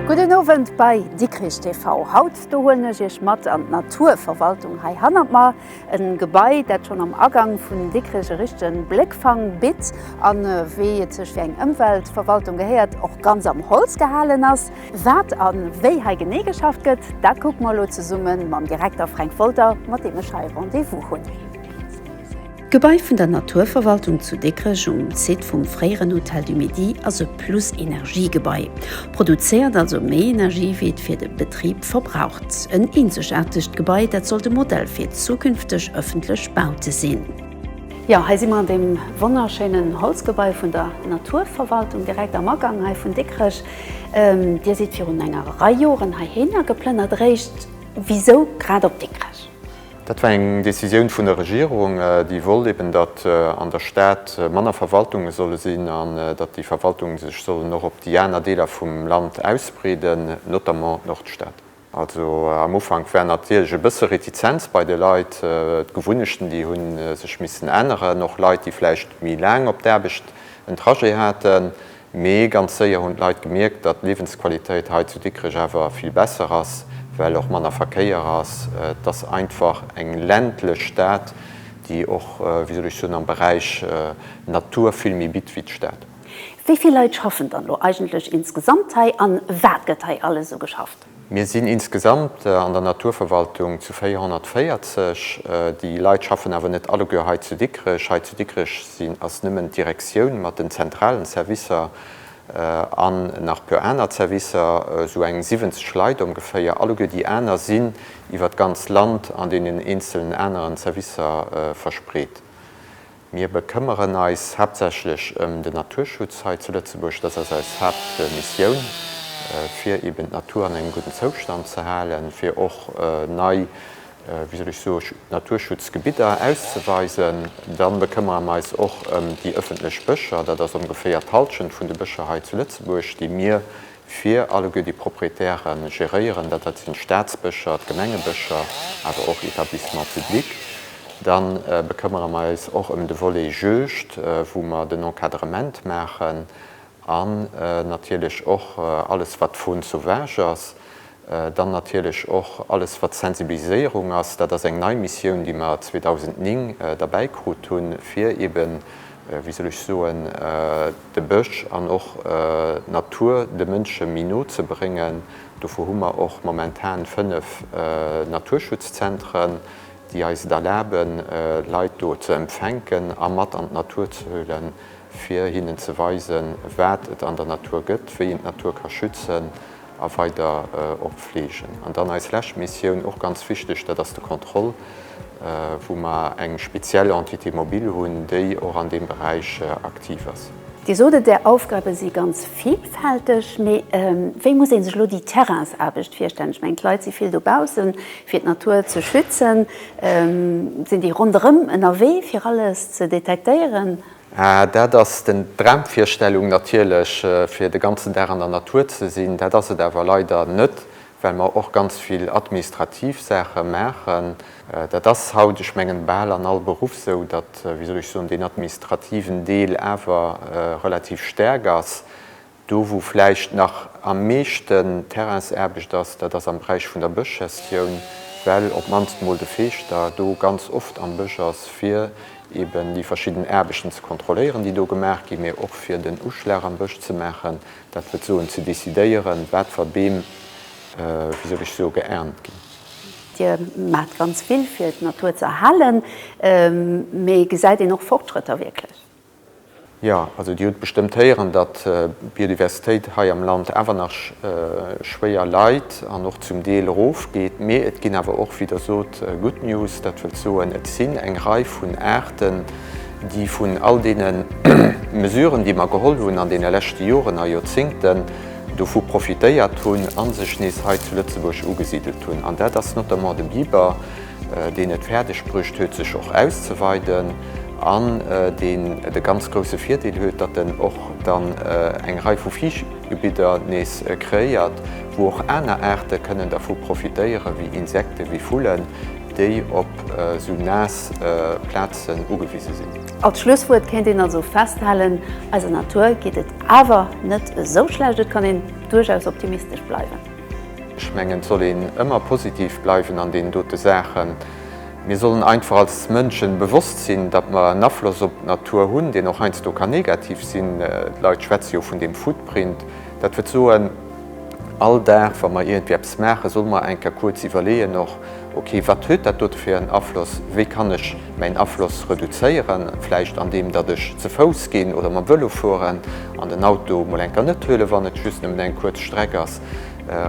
Gudden Owend bei Dikrich TV. Haut do huelen ech Iech mat an d'Naturverwaltung hei hannert mer. E Gebai, dat schonn am Agank vun Dikrech e richtege Bléckfang bitt a wéi et sech fir eng Ëmweltverwaltung gehéiert, och ganz am Holz gehalen ass. Wat a wéi hei genee geschafft gëtt, dat kucke mer elo zesumme mam Direkter Fränk Wolter, mat deem ech hei Rendez-vous hunn. D'Gebai vun der Naturverwaltung zu Dikrech um Site vum fréieren Hôtel du Midi ass e Plus-Energie-Gebai. Produzéiert also méi Energie wéi et fir de Betrib verbraucht. En eenzegaartegt Gebai, dat sollt e Modell fir zukünfteg ëffentlech Baute sinn. Jo, hei si mer an deem wonnerschéinen Holzgebai vun der Naturverwaltung, direkt am Agang hei vun Dikrech. Dir sidd virun enger Rei Joren heihinner geplënnert, eréischt, wisou grad op Dikrech? Dat war eng Decisioun vun der Regierung, déi wollt eben, datt an der Stad manner Verwaltunge solle sinn an datt déi Verwaltunge sech sollen och op déi aner Deeler vum Land ausbreeden, notamment d'Nordstad. Also am Ufank war natierlech e bësse Retizenz bei de Leit. D'Gewunnechten, déi hu sech missen änneren. Och Leit, déi vläicht méi laang op d'Aarbecht en Trajet haten, Mee ganz séier hunn d'Leit gemierkt, datt d'Liewensqualitéit hei zu Dikrech awer vill besser ass, well och manner Verkéier ass. Et ass einfach eng ländlech Stad, déi och, wéi soll ech soen, am Beräich Natur vill méi bitt wéi d'Stad. Wéi vill Leit schaffen dann elo eigentlech insgesamt hei an wat gëtt hei alles esou geschafft? Mir sinn insgesamt an der Naturverwaltung zu 440. Déi Leit schaffen awer net alleguer hei zu Dikrech. Hei zu Dikrech sinn, ass nëmmen d'Direktioun mat den zentralen Servicer an nach puer aner Servicer, esou eng 70 Leit ongeféier. Alleguer déi aner sinn iwwer d'ganz Land an deenen eenzelen aneren Servicer verspreet. Mir bekëmmeren eis haaptsächlech ëm den Naturschutz hei zu Lëtzebuerg. Dass ass eis Haaptmissioun, fir eben d'Natur an engem gudden Zoustand ze halen, fir och nei, wéi soll ech soen, Naturschutzgebidder auszeweisen. Dann bekëmmere mer eis och ëm déi ëffentlech Bëscher. Dat ass ongeféier d'Halschent vun de Bëscher hei zu Lëtzebuerg, déi mir fir alleguer déi Proprietäre geréieren, dat dat sinn d'Staatsbëscher, d'Gemengebëscher, awer och Etablissements publics. Da bekëmmere mer eis och ëm de Volet Juegd, wou mer den Encadrement maachen an natierlech och alles, wat d'Faune sauvage ass, Dann natierlech och alles wat Sensibiliséierung ass. Dat ass eng nei Missioun, déi mer 2009 derbäi krut hunn, fir eben, wéi soll ech soen, de Bësch an och d'Natur de Mënsche méi no ze bréngen. Dofir hu mer och momentan fënnef Naturschutzzentren, déi eis et erlaben, Leit do ze empfänken a mat an d'Natur ze huelen, fir hinnen ze weisen, wat et an der Natur gëtt, wéi een d'Natur ka schützen a weider och fleegen. An dann eis lescht Missioun, och ganz wichteg, dat ass de Contrôle, wou mer eng speziell Entité mobile hunn, déi och an deem Beräich aktiv ass. Dir sot et, Är Aufgabe si ganz vilfälteg. Mee wéi muss ee sech elo déi Terrainsaarbecht virstellen? Ech mengen, d'Leit si vill dobaussen, fir d'Natur ze schützen. Sinn déi ronderëm ënnerwee, fir alles ze detektéieren? Ah, dat ass den, d'Dramvirstellung natierlech, fir de ganzen Dag an der Natur ze sinn. Dat ass et awer leider net, well mer och ganz vill administrativ Saache maachen. Dat ass haut, ech mengen, bal an all Beruff esou, datt, wéi soll ech soen, deen administrativen Deel awer relativ staark ass. Do wou vläicht nach am meeschten Terrainsaarbecht ass, dat ass am Beräich vun der Bëschgestioun, well op d'mannst mol de Feeschter do ganz oft am Bësch ass, fir eben déi verschidden Aarbechten ze kontrolléieren, déi do gemaach ginn, mee och fir den Uschlag am Bësch ze maachen, dat wëll soen ze decidéieren, wat fer Beem, wéi soll ech soe, geernt ginn. Dir maacht ganz vill, fir d'Natur ze erhalen, mee gesäit een och Fortschrëtter wierklech? Jo, also Dir hutt bestëmmt héieren, datt d'Biodiversitéit hei am Land awer nach schwéier leit an och zum Deel erofgeet. Mee et ginn awer och, wéi Der sot, Good News. Dat wëllt soen, et sinn eng Rei vun Aarten, déi vun all deene Mesuren, déi mer geholl hunn an deene leschte Joren a Joerzéngten, dovu profitéiert hunn a sech nees hei zu Lëtzebuerg ugesidelt hunn. An dat ass notamment de Biber. deen et fäerdeg bruecht huet sech och auszeweiden an deen de ganz grousse Virdeel huet, datt en och dann eng Rei vu Fiichtgebidder nees kreéiert, wou och aner Aarte kënnen dervu profitéieren, wéi Insekten, wéi Vullen, déi op esou naass Plazen ugewise sinn. Als Schlusswuert kéint een also festhalen, Eiser Natur geet et awer net esou schlecht, et kann een duerchaus optimistesch bleiwen. Ech mengen, et soll een ëmmer positiv bleiwen an deenen dote Saachen. Mir sollen einfach als Mënschen bewosst sinn, datt mer en Afloss op d'Natur hunn, deen och heiansdo kann negativ sinn. D'Leit schwätze jo vun deem Footprint. Dat wëll soen, all Dag, wa mer iergendwéi eppes maachen, solle mer eng Kéier kuerz iwwerleeën och, Ok, wat huet dat dote fir en Afloss? Wéi kann ech mäin Afloss reduzéieren? Vläicht an deem datt ech ze Fouss ginn oder mam Vëlo fueren an den Auto mol enker net huelen, wann et just nëmmen eng kuerz Streck ass,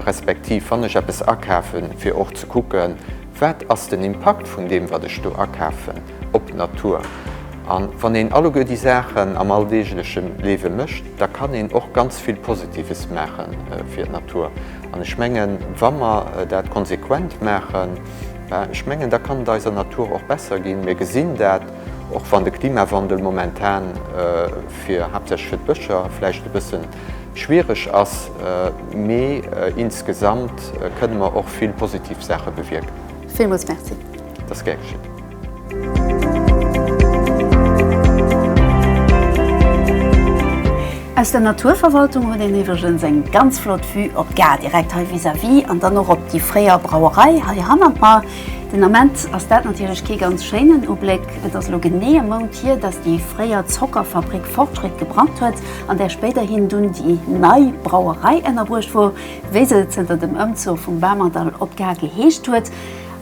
respektiv wann ech eppes akafen, fir och ze kucken, wat ass den Impakt vun deem wat ech do akafen? op d'Natur. A wann een alleguer déi Saachen am alldeegleche Liewe mécht, da kann een och ganz vill Positives maache fir d'Natur. An ech mengen, wa mer dat konsequent maachen, ech mengen, da kann et eiser Natur och besser ginn. Mir gesinn dat, och wann de Klimawandel momentan fir, haaptsächlech fir d'Bëscher vläicht e bësse schwiereg ass, mee insgesamt kënne mer och vill positiv Saache bewierken. Villmools Merci. Dat ass gär geschitt. Aus der Naturverwaltung huet een iwwregens eng ganz flott Vue op d'Gare direkt hei vis-à-vis an dann och op déi fréier Brauerei hei hannert mer. Den Ament ass dat natierlech kee ganz schéinen Ubléck. Et ass elo genee e Mount hier, datt déi fréier Zockerfabrik Fortschritt gebrannt huet, an där spéiderhin dunn déi nei Brauerei ënnerbruecht wor, wéi se zënter dem Ëmzuch vum Bamerdall op d'Gare geheescht huet.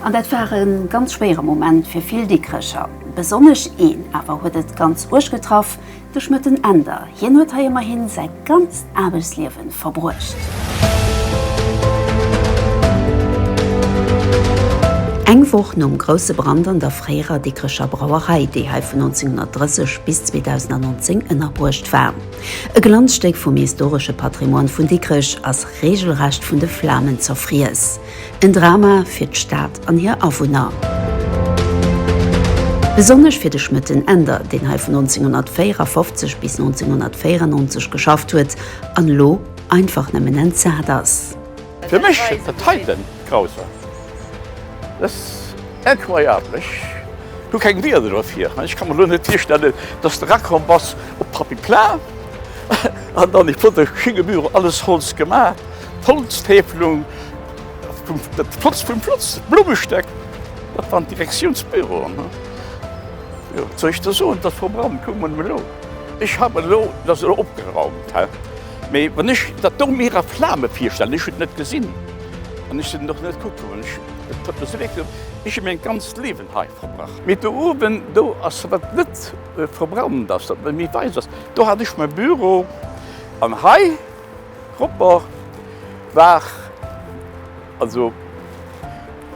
An dat war e ganz schwéiere Moment fir vill Dikrecher. Besonnesch een awer huet et ganz uerg getraff, de Schmëtten Änder. Hien huet hei ëmmerhi säi ganzt Aarbechtsliewe verbruecht. Eng Woch nom grousse Brand an der fréierer Dikrecher Brauerei, déi hei vun 1930 bis 2019 ënnerbruecht war. E Glanzstéck vum historesche Patrimoine vun Dikrech ass reegelrecht vun de Flamen zerfriess. En Drama fir d'Stad an hir Awunner. Besonnesch fir de Schmëtten Änder, deen hei vun 1954 bis 1994 geschafft huet an elo einfach nëmmen entsat ass. Fir mech et dat heiten grausam. Et ass incroyable. Ech hu keng Wieder dofir. Ech ka mer elo net virstellen, dass de erakomm bass op d'Papy Plain an dann, ich wurde geschenkt, Büro, alles Holz gemaach. D'Holztäfelung, de Plotz vum Plotz, d'Blummestéck, dat waren d'Direktiounsbüroen. Jo, wat soll ech der soen, dat Programm, kuck mol elo, ech haff elo, et ass elo opgeraumt, hä? Mee wann ech dat do mir a Flamen virstellen, ech hunn et net gesinn an ech sinn och net kucke goen, ech hunn dat do selektiert, well ech hu mäin ganzt Liewen hei verbrach. Mee do uewen, do ass, wat net verbrannt ass, wat méi wäiss ass, do hat ech mäi Büro an hei, D'Gropper war also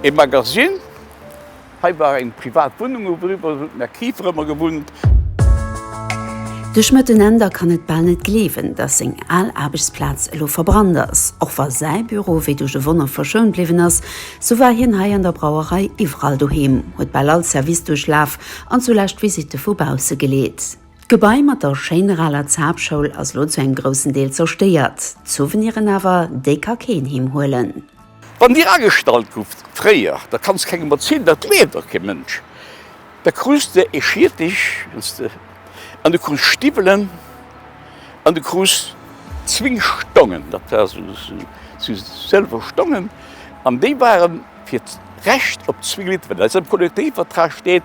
ee Magasinn. Hei war eng privat Wunnung, wou mer iwwer hunn d'Mme Kieffer ëmmer gewunnt. De Schmëtt en Änder kann et bal net gleewen, datt seng al Aarbechtsplaz elo verbrannt ass. Och wa säi Büro wéi duerch e Wonner verschount bliwwen ass, sou war hien hei an der Brauerei iwwerall doheem, huet bal all Service duerchlaf an zulescht Visitte vu bausse geleet. D'Gebai mat der schéiner aler Zaapschoul ass lo zu engem groussen Deel zerstéiert. D'Souveniren awer, déi ka keen heem huelen. Wann dir agestallt gouft fréier, da kanns kengem erzielen, dat gleeft och kee Mënsch. Da krus de ee Schiertech an du krus Stiwwelen an du krus zwéin Stongen, dat war sou sou sëlwer Stongen, an déi waren Fir d'Recht op zwee Liter, wat eis am Kollektivvertrag steet,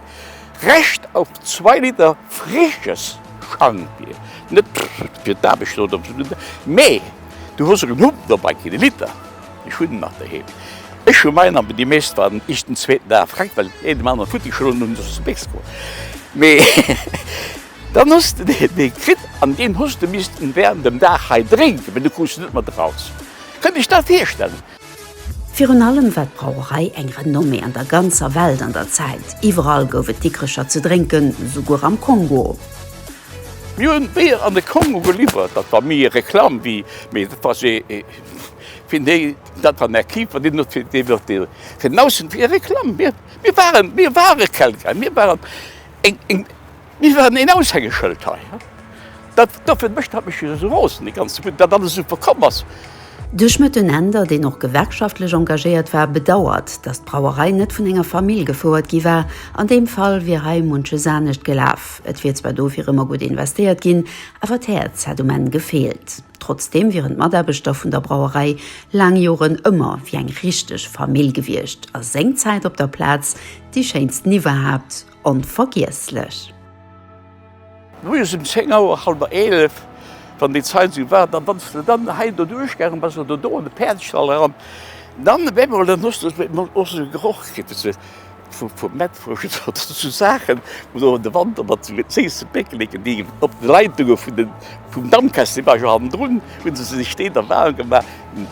Recht auf zwei Liter frisches Schankbier, net fir d'Aarbecht oder fir de, mee du hues erëm Humm dobäi kritt, e Liter, ech hunn en nach doheem, ech hu mäin, an déi meescht waren iech den zweeten Dag fréck, well een dem aneren futti geschloen hunn, sos de béis geworden, mee dann hues de dee kritt an deen hues de missten während dem Dag hei drénken, well du krus en net mat eraus. Kënnt iech dat virstellen? Virun allem war d'Brauerei eng Renommée an der ganzer Welt an der Zäit. Iwwerall gouf et Dikrecher ze drénken, souguer am Kongo. Mir hunn d'Bier an de Kongo geliwwert. Dat war méi ee Reklamm wéi, mee dat war fir déi, dat war en Archiv, wat een huet, deen huet ee fir den Aussenwee Reklamm. Mir waren, mir ware Kelgräi, mir waren eng, eng. Mir waren een Aushängeschëld hei. Dat dofir mécht dat mech esou roosen, déi ganz Zeput, dat alles esou verkomm ass. De Schmëtt den Änder, deen och gewerkschaftlech engagéiert war, bedauert, datt d'Brauerei net vun enger Famill gefouert gi war. An deem Fall wier hei munches anescht gelaf. Et wier zwar dofir ëmmer gutt investéiert ginn, awer d'Häerz hätt um Enn gefeelt. Trotzdeem wieren d'Mataarbechter vun der Brauerei laang Joren ëmmer wéi eng richteg Famill gewiescht a sengzäit op der Plaz déi schéinsten iwwerhaapt Onvergiesslech! Moies um 10 Auer, halwer 11, wann déi Zait esou war, dann wanns de dann hei do duerchgaangen bass oder do an de Päerdestall eran, dann op eemol, dann hues de op eemol och esou e Geroch kritt, wéi se vu Mettwurscht oder esou Saachen, wou se och an de Wanter mat esou séisse Péckeleken, déi op de Leitungen vun den, vum Dampkessel, déi war jo hannendrun, hu se sech déi da waarm gemaach.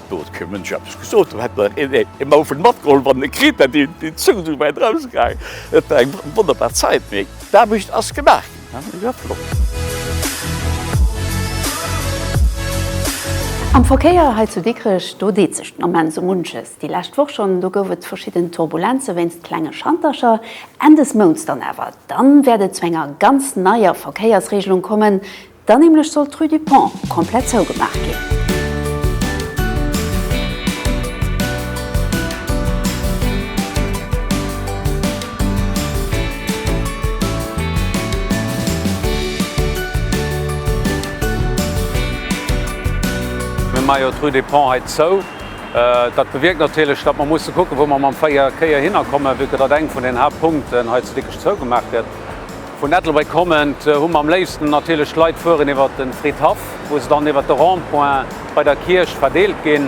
Do huet kee Mënsch eppes gesot. Ee Mauf huet matgeholl, wann en e kritt hätt, déi Zung esou wäit erausgaangen. Et war eng wonnerbar Zäit, mee d'Aarbecht ass gemaach ginn. Am Verkéier hei zu Dikrech, do deet sech den Ament esou munches. Déi lescht Woch schonn, do gouf et verschidden Turbulenze wéinst klenge Schantercher. Enn des Mounts dann awer, da wäert et zu enger ganz neier Verkéiersreegelung kommen, Dann nämlech sollt d'Rue du Pont komplett zougemaach ginn. Mir maache jo d'Rue du Pont hei zou. Dat bewierkt natierlech, datt mer musse kucken, wou mer mam Verkéier hinnerkommen, vue que datt eng vun den Haaptpunkten hei zu Dikrech zougemaach gëtt. Vun Ettelbréck kommend hu mer am léifsten natierlech d'Leit fueren iwwert de Fridhaff, wou se dann iwwert de Rond-point bei der Kierch verdeelt ginn.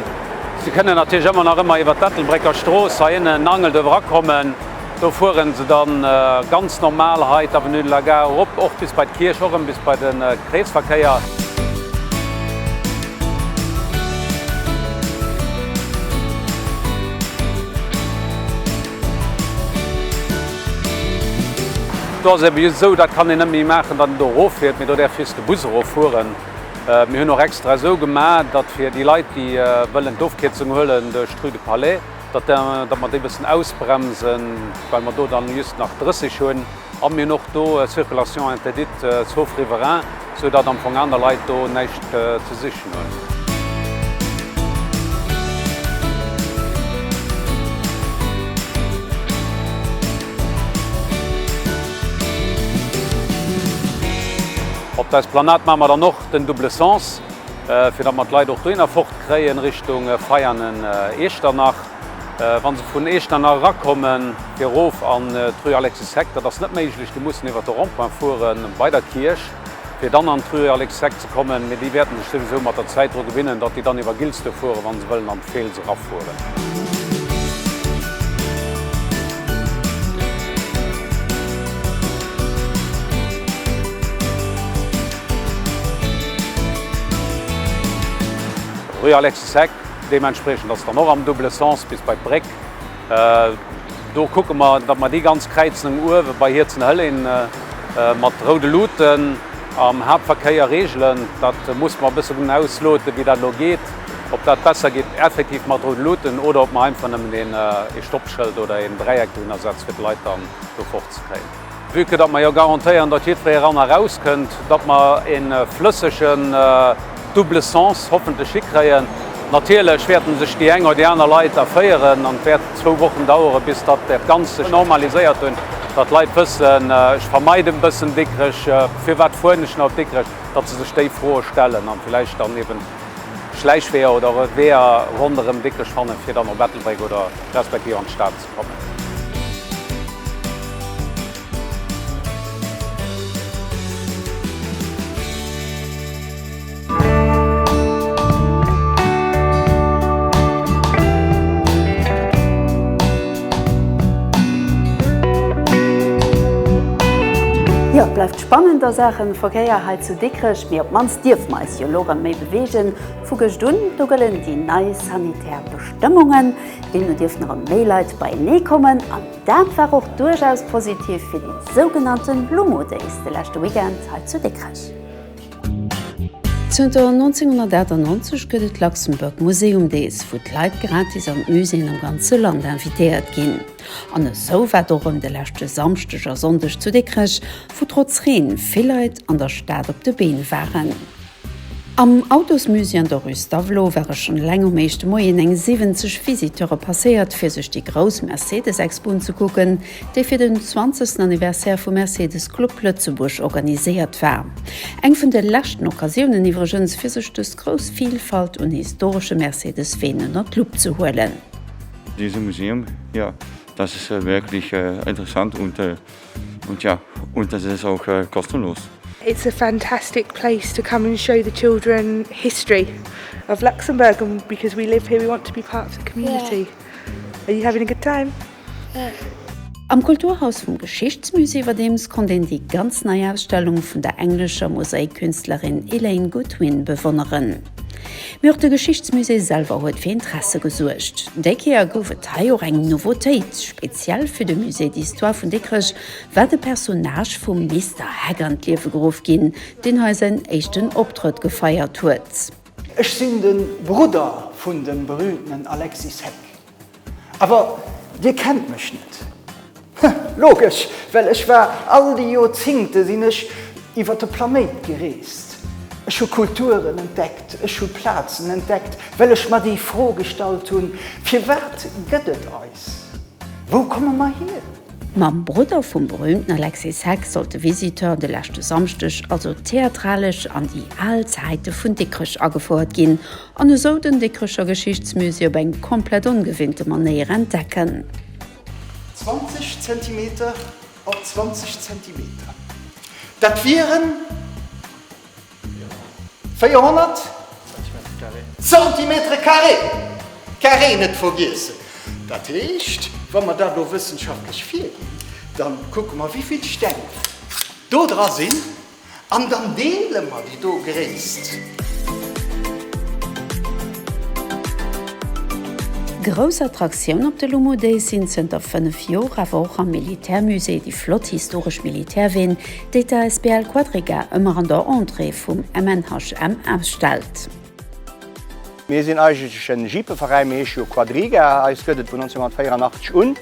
Se kënnen natierlech ëmmer nach ëmmer iwwert d'Ettelbrécker Strooss hei ënnen Angelt uewerer kommen. Do fueren se dann ganz normal hei d'Avenue de la Gare erop, och bis bei d'Kierch, och rëm bis bei de Kreesverkéier. Do ass et eben just esou, dat kann een net méi maachen, datt een do eroffiert, mee do däerf just de Bus eroffueren. Mir hunn och extra esou gemaach, datt fir déi Leit, déi wëllen d'Ofkierzung huelen duerch d'Rue du Palais, datt mer déi e bëssen ausbremsen, well mer do dann just nach 30 hunn. An mir hunn och do Circulation interdite sauf riverains, sou datt am Fong aner Leit do näischt ze sichen hunn. Op der Esplanade maache mer dann och den double sens, fir datt mer d'Leit och dohinner fort kréien, Richtung Veianen, Iechternach. Wann se vun Eechternach erakommen, fir erof an d'Rue Alexis Heck, dat ass net méiglech, déi mussen iwwert de Rond-point fuere bei der Kierch, fir dann an d'Rue Alexis Heck ze kommen. Mee déi wäerte sech souwisou mat der Zäit dru gewinnen, datt déi dann iwwer Gilsdurf fueren, wa se wëllen an d'Feels erafueren. Rue Alexis Heck, Deementspriechend ass dann och am double sens bis bei d'Bréck. Do kucke mer, datt mer déi ganz Kräizung uewe bei Hierzenhëllén mat roude Luuten am Haaptverkéier regelen. Dat musse mer e bëssen ausloten, wéi dat elo geet, ob dat besser geet effektiv mat roude Luuten oder ob mer einfach nëmmen ee Stoppschëld oder een Dräieck dohinner setze fir d'Leit dann do fort ze kréien. Vue que datt mer jo garantéieren, datt jiddweree eran a raus kënnt, datt mer e flëssegen double sens hoffentlech hikréien. Natierlech wäerte sech déi eng oder déi aner Leit erféieren an et wäert zwou Wochen daueren, bis datt dat Ganzt sech normaliséiert huet, datt d'Leit wëssen, Ech vermeiden e bëssen Dikrech, firwat fueren ech nach op Dikrech? Datt se sech déi Froe stellen an villäicht dann eben Schläichweeër oder Weeër ronderëm Dikrech fannen, fir dann op Ettelbréck oder respektiv an d'Stad. kommen. Jo, et bleift spannend a Saachen Verkéier hei zu Dikrech, mee op d'mannst dierf mer eis jo elo rem méi bewegen. Vu gescht un do gëllen déi nei sanitär Bestëmmungen. Deemno dierften erëm méi Leit beienee kommen an dat war och duerchaus positiv fir déi sougenannte Lumo Days de leschte Weekend hei zu Dikrech. Zënter 1998 gëtt et d'Luxembourg Museum Days, wou d'Leit gratis an d'Muséeën am ganze Land invitéiert ginn. An esou war et och erëm de leschte Samschdeg a Sonndeg zu Dikrech, wou trotz Reen vill Leit an der Stad op de Been waren. Am Autosmusée an der Rue Stavelot ware schonn eleng um éischte Moien eng 70 Visiteure passéiert, fir sech déi grouss Mercedes-Expo unzekucken, déi fir den 20. Anniversaire vum Mercedes Club Lëtzebuerg organiséiert war. Eng vun de leschten Occasiounen iwwregens, fir sech dës grouss Vilfalt un historesche Mercedes-Ween ënner d'Lupp ze huelen. Dese Museum, jo, das ist wirklich interessant und. Und ja, und es ist auch kostenlos. It's a fantastic place to come and show the children history of Luxembourg and because we live here we want to be part of the community. Yeah. Are you having a good time? Yeah. Am Kulturhaus vum Geschichtsmusée iwwerdeems konnt een déi ganz nei Ausstellung vun der englescher Mosaik-Künstlerin Elaine Goodwin bewonneren. Mee och de Geschichtsmusée selwer huet fir Interesse gesuergt. Déi Kéier gouf et hei och eng Nouveautéit. Speziell fir de Musée d'Histoire vun Dikrech war de Personnage vum Mister Heck an d'Liewe geruff ginn, deen hei säin éischten Optrëtt gefeiert huet. Ech sinn de Brudder vun dem berühmtenen Alexis Heck. Awer dir kennt mech net? Huh, logesch, well ech war all déi Joerzingte sinn ech iwwer de Planéit gereest. Ech hu Kulturen entdeckt, ech hu Plazen entdeckt, well ech mer déi Fro gestallt hunn, Firwat gëtt et eis? Wou komme mer hier? Mam Brudder vum berüümten Alexis Heck sollt de Visiteur de leschte Samschdeg also theatralesch an déi al Zäite vun Dikrech agefouert ginn. An esou den Dikrecher Geschichtsmusée op eng komplett ongewinnte Manéier entdecken. 20 Zentimeter op 20 Zentimeter, dat wieren 400 Zentimeter carré! Carré net vergiessen! Dat heescht, wa mer dat elo wëssenschaftlech virginn, da kucke mer, wéi vill Steng do dra sinn. An dann deele mer déi do Gréisst. Grouss Attraktioun op de Lumu Days sinn zënter 5 Joer awer och am Militärmusée déi flott historesch Militärween, déi d'Asbl Quadriga ëmmer an der Entrée vum MNHM ausstellt. Mir sinn eigentlech en Jeepeveräi, mir heesche jo Quadriga, eis gëtt et vun 1984 un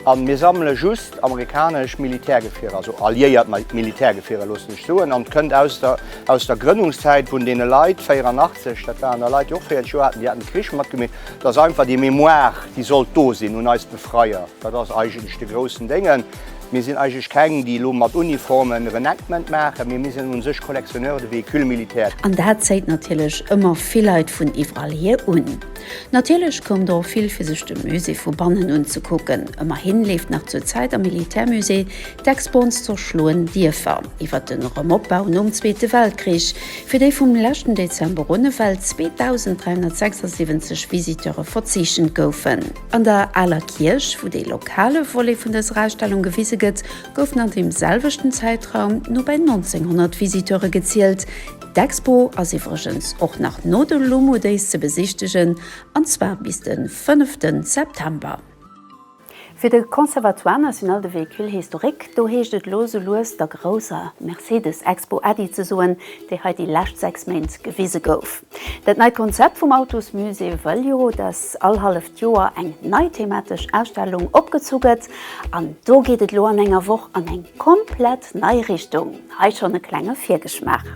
a mir sammele just amerikanesch Militärgefierer, also alliéiert Militärgefierer loosse sech soen, an et kënnt aus der aus der Grënnungszäit vun deene Leit 84, dat waren da Leit déi och 40 Joer haten, déi haten de Krich matgemeet, dat ass einfach déi Mémoire déi sollt do sinn un eis Befreier, dat ass eigentlech de groussen Déngen. Mir sinn eigentlech keng, déi elo mat Uniform en Renactment maachen, mee mir sinn un sech Collectionneur de véhicules militaires. An dat zéit natierlech ëmmer vill Leit vun iwwerall hier un. Natierlech koumt der och vill, fir sech de Musée vu bannen unzekucken. Ëmmerhi leeft nach zur Zäit am Militärmusée d'Expo Ons zerschloen Dierfer, iwwert de Remopbau nom Zweete Weltkrich, fir déi vum leschten Dezember un ewell 2.376 Visiteure verzeechent goufen. An der Aler Kierch, wou dee lokale Volet vun dëser Ausstellung gewise gëtt, goufen an deem selwechten Zäitraum no bäi 1900 Visiteure gezielt. D'Expo ass iwwregens och nach no de Lumu Days ze besichtegen, an zwar bis de fënneften September. Fir de Conservatoire National de Véhicules Historiques, do heescht et elo sou lues der grousser Mercedes-Expo Äddi ze soen, déi hei déi lescht 6 Méint gewise gouf. Dat neit Konzept vum Autosmusée wëll jo, dass all halleft Joer eng nei thematesch Ausstellung opgezu gëtt. An do geet et elo an enger Woch an eng komplett nei Richtung. Hei schonn e klenge Virgeschmaach.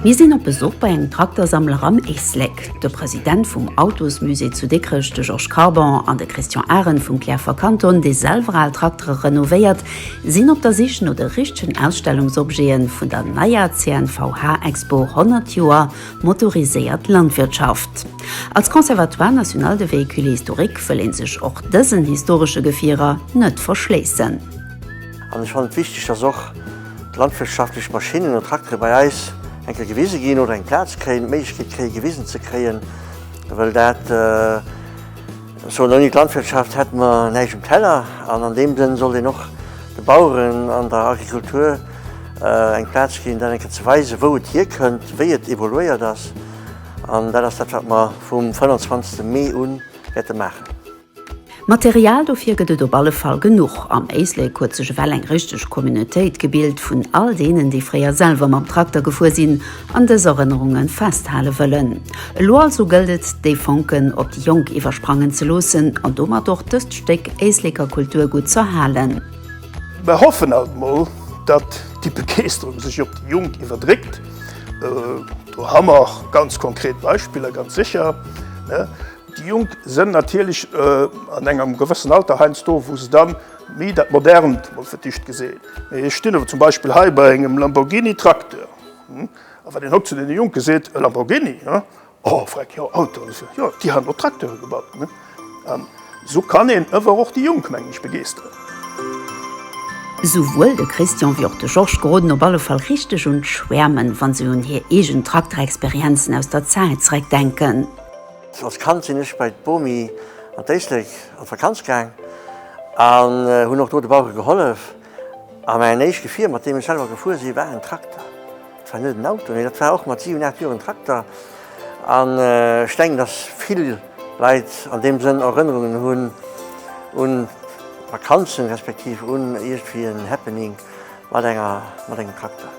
Mir sinn op Besuch bei engem Traktersammler am Éislek. De President vum Autosmusée zu Dikrech, de Georges Carbon, an de Christian Arend vum Cliärrfer Kanton, dee selwer al Traktere renovéiert, sinn op der Sich no de richtegen Ausstellungsobjete vun der neier CNVH-Expo 100 Joer motoriséiert Landwirtschaft. Als Conservatoire national de véhicules historiques wëll ee sech och dësen historesche Gefierer net verschléissen. An ech fannen et wichteg, dass och. landwirtschaftlech Maschinnen an Traktere bei eis eng Kéier gewise ginn oder eng Plaz kréien, d'Méiglechkeet kréie gewisen ze kréien, well dat esouhn ouni d'Landwirtschaft hätte mer näischt um Teller an an deem Sënn sollt een och de Baueren an der Agrikultur eng Plaz ginn, dat eng Kéier ze weisen, wou et hierkënnt, wéi et evoluéiert ass an dat ass dat wat mer vum 25 Mee un wäerte maachen. Material dofir gëtt et op alle Fall genuch. Am Éislek huet sech ewell eng richteg Communautéit gebilt vun all deenen, déi fréier selwer mam Trakter gefuer sinn an dës Erënnerunge festhale wëllen. Elo also gëllt et, déi Fonken op déi Jonk iwwersprangen ze loossen an domat och dëst Stéck Éisleker Kulturgutt z'erhalen. Mer hoffen alt mol, datt déi Begeesterung sech op déi Jonk iwwerdréckt. Do ha mer ganz konkret Beispiller, ganz sécher. Déi Jonk sen natirlech an engem gewëssen Alter heiansdo wou se dann méi dat Modernt mol fir d'éischt geseen. Mee ech stin awer zum Beispill hei bei engem Lamborghini Trakteur. A wann een haut zu den Jonken seet, E Lamborghini? Oh freck jo, Autoen, jo déi han och Trakteuren gebaut. An sou kann een ewer och déi Jonk mengen ech begeesteren. Souwuel de Christian wéi och de Georges geroden op alle Fall richteg un d'Schwäermen, wa se un hir eegen Trakterexperienzen aus der Zäit zereckdenken. Als Kand sinn ech bei d'Bomi an d'Éislek an d'Vakanz gaang an hunn och do de Bauere gehollef. A mäin éischt Gefier, mat deem ech selwer gefuer sinn, war en Trakter. Dat war net en Auto, nee, dat war och mat siwen, aacht Joer en Trakter. An ech denken, dass vill Leit an deem Sënn Erënnerungen hunn un Vakanzen, respektiv un iergendwéi en Happening mat engem Trakter.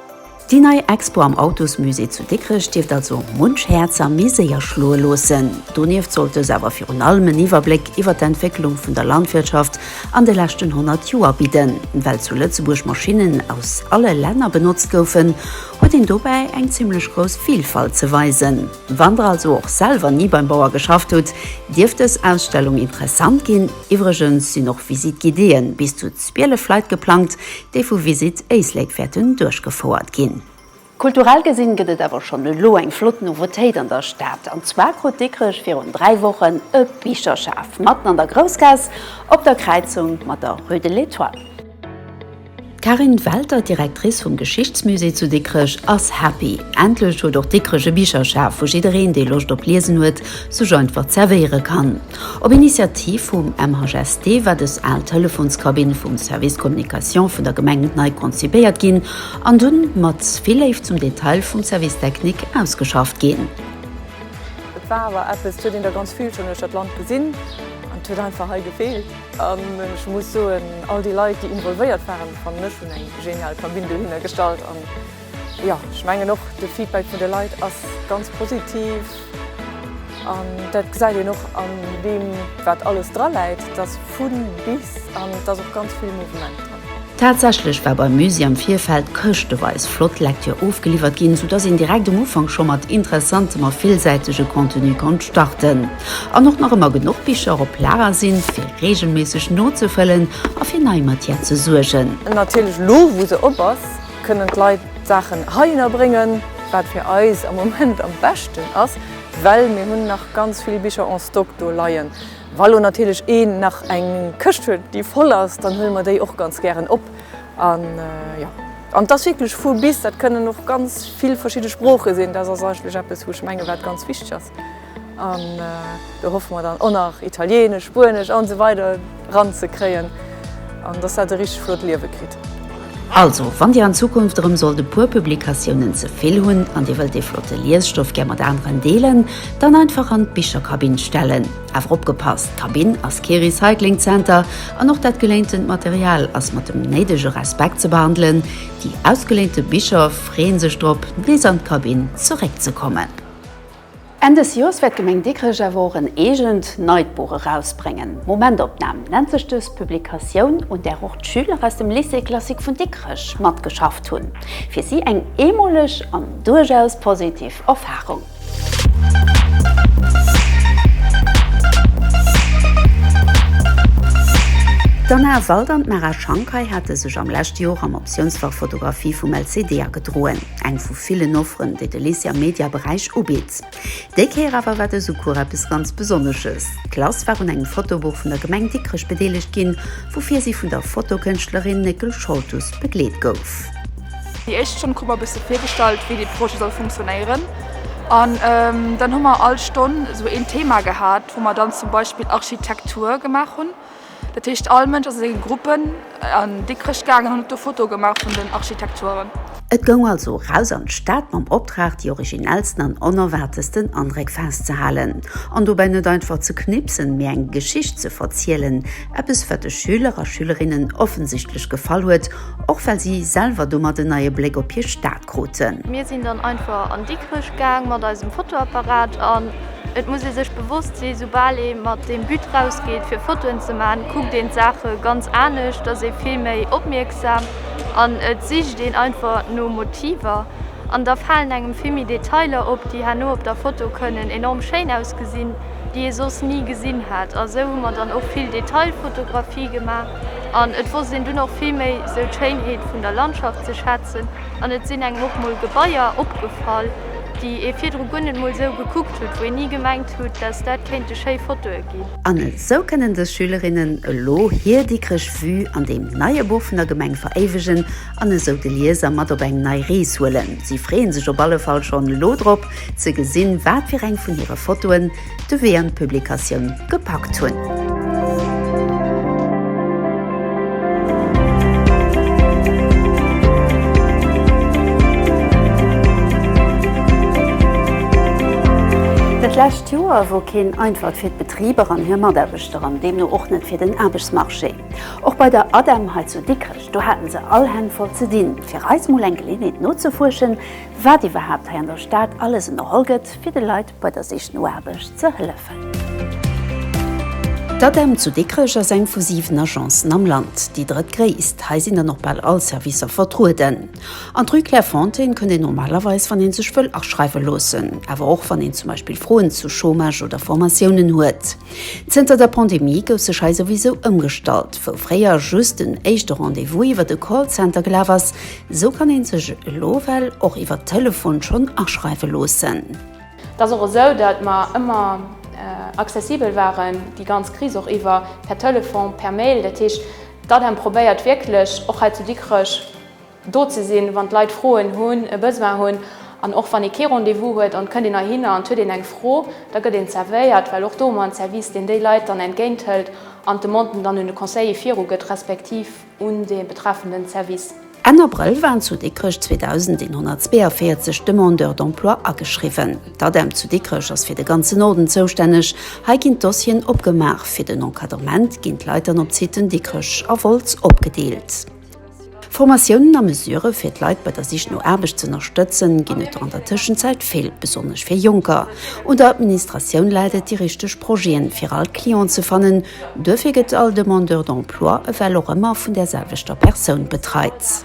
Déi nei Expo am Autosmusée zu Dikrech dierft also munch Häerzer méi séier schloe loossen. Donieft sollt dës awer virun allem en Iwwerbléck iwwer d'Entwécklung vun der Landwirtschaft an de leschten 100 Joer bidden. Well zu Lëtzebuerg Maschinnen aus alle Länner benotzt goufen, huet een dobäi eng zimmlech grouss Vilfalt ze weisen. Wann der also och selwer ni beim Bauer geschafft hutt, dierft dës Ausstellung interessant ginn. Iwwregens sinn och Visite-guidéeë bis zu Zwielef Leit geplangt, déi vu Visit Éislek wäerten duerchgefouert ginn. Kulturell gesinn gëtt et awer schonn elo eng flott Nouveautéit an der Stad. An zwar krut Dikrech virun 3 Wochen e Bicherschaf matten an der Groussgaass op der Kräizung mat der Rue de l'Etoile. D'Carine Welter, Directrice vum Geschichtsmusée zu Dikrech ass happy. Endlech huet och Dikrech e Bicherschaf, wou jiddereen, dee Loscht op Liesen huet, sech einfach zerwéiere kann. Op Initiativ vum MHST war dës al Telefonskabinn vum Service Communication vun der Gemeng nei konzipéiert ginn an dunn mat vill Léift zum Detail vum Service Technique ausgeschafft ginn. Et war awer eppes, et huet een der ganz vill schonn duerch dat Land gesinn an et huet einfach hei gefeelt. An ech muss soen, all déi Leit, déi involvéiert waren, fannen ech, hunn eng genial Kabinn dohinner gestallt. Jo, ech mengen och de Feedback vun de Leit ass ganz positiv. An dat gesäit een och an deem, wat alles dra läit, dass vun bis an et ass och ganz vill Mouvement dran. Tatsächlech war beim Musée am Virfeld këschteweis flott Lektür ofgeliwwert ginn, sou dass een direkt um Ufank scho mat interessantem a villsäitege Contenu konnt starten an och nach ëmmer genuch Bicher op Lager sinn, fir reegelméisseg nozefëllen a fir nei Matière ze suergen. Natierlech elo, wou se op ass. Kënnen d'Leit d'Saachen heihinner bréngen, wat fir eis am Moment am beschten ass, well mir hunn nach ganz vill Bicher en stock do leien. Wa lo natierlech een nach eng Këscht huet, déi voll ass, dann huele mer déi och ganz gären op. An jo, an et ass wierklech vu bis. Dat kënnen och ganz vill verschidde Sprooche sinn. Dat ass eigentlech eppes, wou ech menge wat ganz wichteg ass. An do hoffe mer dann och nach Italieenesch, Spuenesch an esou weider eran ze kréien an dass dat e richteg flott Liewe kritt. Also, wann Dir an Zukunft erëm sollt e puer Publikatiounen ze vill hunn an Dir wëllt dee flotte Liesstoff gär mat aneren deelen, dann einfach an d'Bicherkabinn stellen. Awer opgepasst, d'Kabinn ass kee Recyclingzenter an och dat geléintent Material ass mat dem néidege Respekt ze behandelen. Déi ausgeléinte Bicher freeën sech drop, nees an d'Kabinn zeréckzekommen. Enn des Joers wäert d'Gemeng Dikrech awer och en eegent neit Buch erausbréngen. Momentopnahm nennt sech dës Publikatioun, un där och d'Schüler aus dem Lycée classique vun Dikrech matgeschafft hunn. Fir si eng eemoleg an duerchaus positiv Erfarung. D'Anna Wald an d'Mara Shankay hate sech am leschte Joer am Optiounsfach Fotografie vum LCD agedroen. eng vu villen Offeren, déi de Lycée am Media-Beräich ubitt. Déi Kéier awer war dëse Cours eppes ganz Besonnesches, D'Klass war un engem Fotobuch vun der Gemeng Dikrech bedeelegt ginn, woufir si vun der Fotokënschtlerin Néckel Scholtus begleet gouf. Déi éischt Stonn krut mer e bësse virgestallt, wéi dee Projet soll funktionéieren an dann hu mer all Stonn esou een Thema gehat, wou mer dann zum Beispill Architektur gemaach hunn. Dat heescht all Mënsch ass a senge Gruppen an Dikrech gaangen an huet do Fotoe gemaach vun den Architekturen. Et goung also eraus an d'Stad mam Optrag déi originellsten an onerwaartesten Andréck festzehalen an dobäi net einfach ze knipsen, mee eng Geschicht ze verzielen. Eppes wat de Schüler a Schülerinnen offensichtlech gefall huet, och well si selwer domat en neie Bléck op hir Stad. kruten. Mir sinn dann einfach an Dikrech gaang mat eisem Fotoapparat an et muss ee sech bewosst sinn, soubal ee mat deem But rausgeet fir Fotoen ze maachen, kuckt een d'Saache ganz anescht, et ass ee vill méi opmierksam an et sicht een einfach no Motiver an da falen engem vill méi Detailer op, déi herno op der Foto kënnen enorm schéin ausgesinn, déi ee soss ni gesinn hätt. A sou hu mer dann och vill Detailfotografie gemaach. An et wosst een dunn och vill méi sou d'Schéinheet vun der Landschaft ze schätzen. An et sinn engem och mol Gebaier opgefall, déi ee virdru guer net mol sou gekuckt hutt, wou een ni gemengt hutt, dass dat kéinte schéi Fotoe ginn. An esou kënnen dës Schülerinnen elo hir Dikrech Vue an deem neie Buch vun der Gemeng veréiwegen an esou de Lieser mat op eng nei Rees huelen. Si freeën sech op alle Fall schonn elo drop, ze gesinn, wat fir eng vun hire Fotoen, de Wee an d'Publikatioun gepackt hunn. Dat lescht Joer wor keen einfalt fir d'Betriber an hir Mataarbechter an deemno och net fir den Aarbechtsmarché. Och bei der ADEM hei zu Dikrech, do haten se all Hänn voll ze dinn. Fir eis mol eng Geleeënheet nozefuerschen, wat iwwerhaapt hei an der Stad alles ënnerholl gëtt, fir de Leit bei der Sich no Aarbecht ze hëllefen. D'ADEM zu Dikrech ass eng vu 7 Agencen am Land, déi drëttgréisst. Hei sinn dann och bal all Servicer vertrueden. An d'Rue Clairefontaine kënnt een normalerweis, wann ee sech wëll aschreiwe loossen, awer och wann een zum Beispill Froen zu Chômage oder Formatiounen huet. Zënter der Pandemie gouf sech hei souwisou ëmgestallt. Wou fréier just den éischte Rendez-vous iwwer e Callcenter gelaf ass, Sou kann een sech elo well och iwwert Telefon schonn aschreiwe loossen. Et ass och esou, datt mer ëmmer accessibel waren, déi ganz Kris och iwwer, per Telefon, per Mail. Dat heescht, d'ADEM probéiert wierklech och hei zu Dikrech do ze sinn, wann d'Leit Froen hunn, e Besoin hunn. An och wann ee kee Rendez-vous huet an et kënnt een heihinner an et huet een eng Fro, da gëtt een zervéiert, well och do hu mer en Service, deen déi Leit dann entgéinthëlt an d'Demanden dann un de Conseiller virugëtt, respektiv, un dee betreffenden Service. Enn Abrëll waren zu Dikrech 2.142 Demandeurs d'emploi ageschriwwen. D'ADEM zu Dikrech ass fir de ganzen Norden zoustänneg. Hei ginn d'Dossieren opgemaach. Fir den Encadrement ginn d'Leit dann op d'Siten Dikrech a Wolz opgedeelt. Formatiounen a Mesurë fir d'Leit bei der Sich no Aarbecht z'ënnerstëtzen ginn et der an der Tëschenzäit vill, besonnesch fir Jonker. Un der Administratioun läit et, déi richteg Projeten fir all Client ze fannen. Duerfir gëtt all Demandeur d'emploi ewell och ëmmer vun där selwechter Persoun betreit.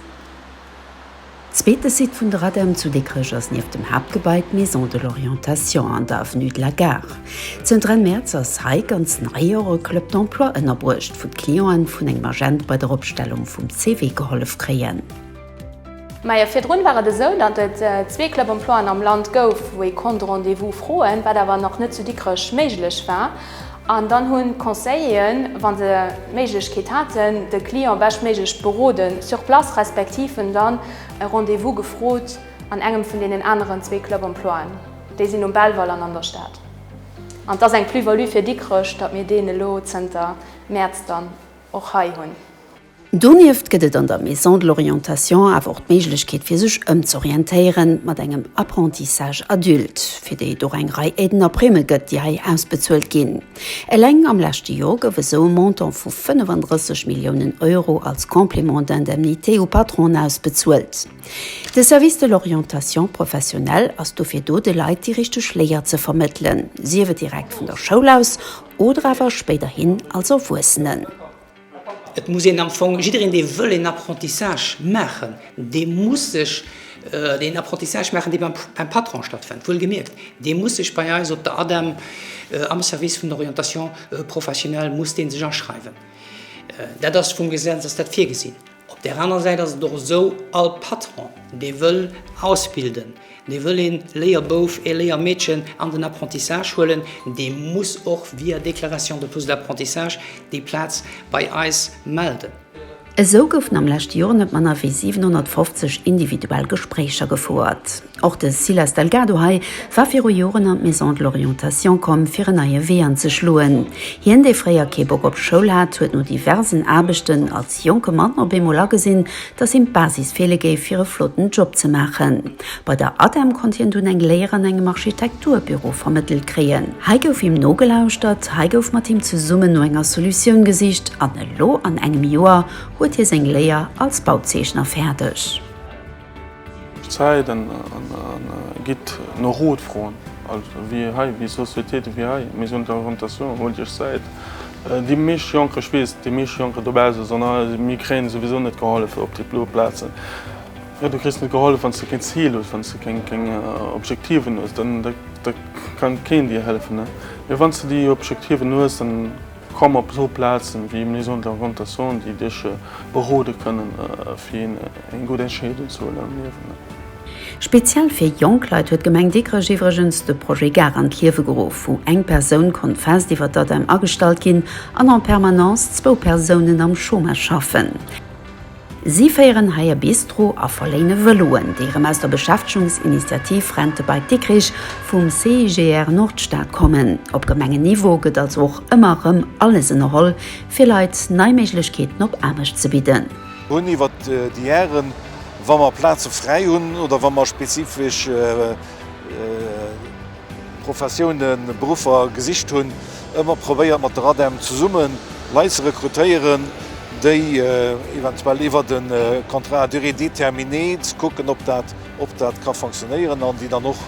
Zweete Site vun der ADEM zu Dikrech ass nieft dem Haaptgebai d'Maison de l'orientation an der Avenue de la Gare. Zënter Enn Mäerz ass hei, ganz nei, och e Club d'emploi ënnerbruecht, wou d'Clienten vun engem Agent bei der Opstellung vum CV gehollef kréien. Majo, virdrun war et esou, datt et zwee Club-Emploien am Land gouf, wou ee konnt Rendez-vous froen, wat awer nach net zu Dikrech méiglech war. An dann hunn d'Conseilleren, wa se d'Méiglechkeet haten, de Client beschtméiglech beroden sur place, respektiv en dann e Rendez-vous gefrot an engem vun deenen aneren zwee Club-Emploien. Déi sinn um Belval an an der Stad. An et ass eng Plus-value fir Dikrech, datt mir deen elo zënter Mäerz dann och hei hunn. Donieft gëtt et an der Maison de l'Orientation awer och d'Méiglechkeet fir sech ëmz'orientéieren mat engem Apprentissage Adulte, fir déi et och eng Rei Aiden a Primë gëtt, déi hei ausbezuelt ginn. Eleng am leschte Jor gouf esou e Montant vu 35 Milliounen Euro als Complément d'indemnité u Patronen ausbezuelt. De Service de l'Orientation professionnelle ass dofir do, de Leit déi richteg Léier ze vermëttelen, sief et direkt vun der Schoul aus oder awer spéiderhin als Erwuessenen. Et muss een am Fong, jiddereen dee wëll een Apprentissage maachen, dee muss sech een Apprentissage maachen, dee beim Patron stattfënnt, wuel gemierkt, dee muss sech bei eis op der ADEM am Service vun der Orientation professionnelle muss dee sech aschreiwen. Dat ass vum Gesetz ass dat virgesinn. Op där aner Säit ass et och esou, all Patron, dee wëll ausbilden, dee wëll ee Léierbouf, ee Léiermeedchen an den Apprentissage huelen, dee muss och via Déclaration de poste d'apprentissage déi Plaz bei eis melden. Esou goufen am leschte Joer net manner wéi 750 individuell Gespréicher gefouert. Och de Silas Delgado hei war viru Joren an d'Maison de l'orientation komm, fir en neie Wee anzeschloen. Hien, dee fréier kee Bock op Schoul hat, huet no diversen Aarbechten als. De jonke Mann op eemol agesinn, dass him d'Basis feele géif, fir e flotten Job ze maachen. Bei der ADEM konnt hien dunn eng Léier an engem Architekturbüro vermëttelt kréien. Hei gouf him nogelauschtert, hei gouf mat him zesummen no enger Solutioun gesicht an elo an engem Joer huet hie seng Léier als Bauzeechner fäerdeg. Zäit an gitt no Rot froen. Also wéi hei, wéi Societéiten wéi hei, Maison de la Orientation, Holt Iech Zäit. Déi meescht Jonker, ech weess, déi meescht Jonker dobausse soen, Ah, mir kréien souwisou net gehollef op déi blo Plazen. Jo, du kriss net gehollef, wann s de keen Zil hues, wann s de keng Objektiven hues, da kann keen dir hëllefen. Mee wann s de déi Objektiven hues, dann. Komm op esou Plazen wéi Maison de l'orientation déi dech beroden kënnen fir eng gutt Entscheedung ze huelen am Liewen. Speziell fir jonk Leit huet d'Gemeng Dikrech iwwregens de Projet Gare an d'Liewe geruff, wou eng Persoun konnt fest iwwert d'ADEM agestallt ginn an en permanence zwou Persounen am Chômage schaffen. Si féieren hei e Bistro a verléine Vëloen, déi erëm aus der Beschäftegungsinitiativ Rentebike Dikrich vum CIGR Nordstad kommen. Op Gemengenniveau gëtt also och ëmmer erëm alles ënnerholl, fir Leit nei Méiglechkeeten op Aarbecht ze bidden. Hunn iwwer déi Hären, wa mer Plaze fräi hunn oder wa mer spezifesch. Professiounen, Beruffer gesicht hunn, ëmmer probéiert mat der ADEM zesummen Leit ze rekrutéieren, déi eventuell iwwer de Contrat à durée déterminée ze kucken, ob dat ob dat ka fonctionnéieren an déi dann och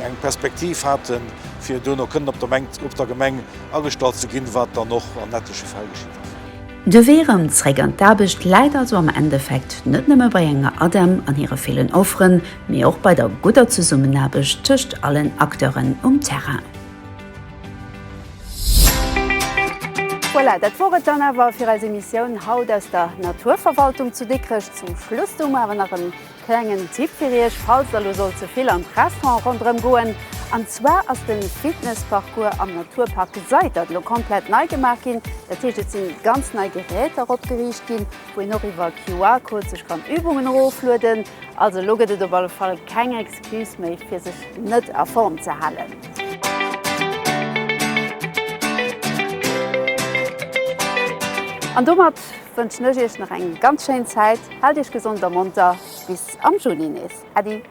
eng Perspektiv haten, fir duerno kënnen op der Mengt op der Gemeng agestallt ze ginn, wat dann och an ettleche Fäll geschitt ass. De Wee erëm zréck an d'Aarbecht läit also am Endeffekt net nëmme bei enger ADEM an hire villen Offeren, mee och bei der gudder Zesummenaarbecht tëscht allen Acteuren um Terrain. Voilà, dat wor et dann awer fir eis Emissioun haut aus der Naturverwaltung zu Dikrech. Zum Schluss do mer awer nach e klengen Tipp fir Iech, falls Der elo sollt ze vill an d'Restaurant ronderëm goen. An zwar ass de Fitnessparcours am Naturpark Seitert elo komplett nei gemaach ginn. Dat heescht, et si ganz nei Geräter opgeriicht ginn. wou een och iwwer QR-Code sech kann Übungen eroflueden, also elo gëtt et op alle Fall keng Excuse méi fir sech net a Form ze halen. An domat wënschen ech iech nach eng ganz schéin Zäit, haalt iech gesond a monter, bis am Juni nees, Äddi!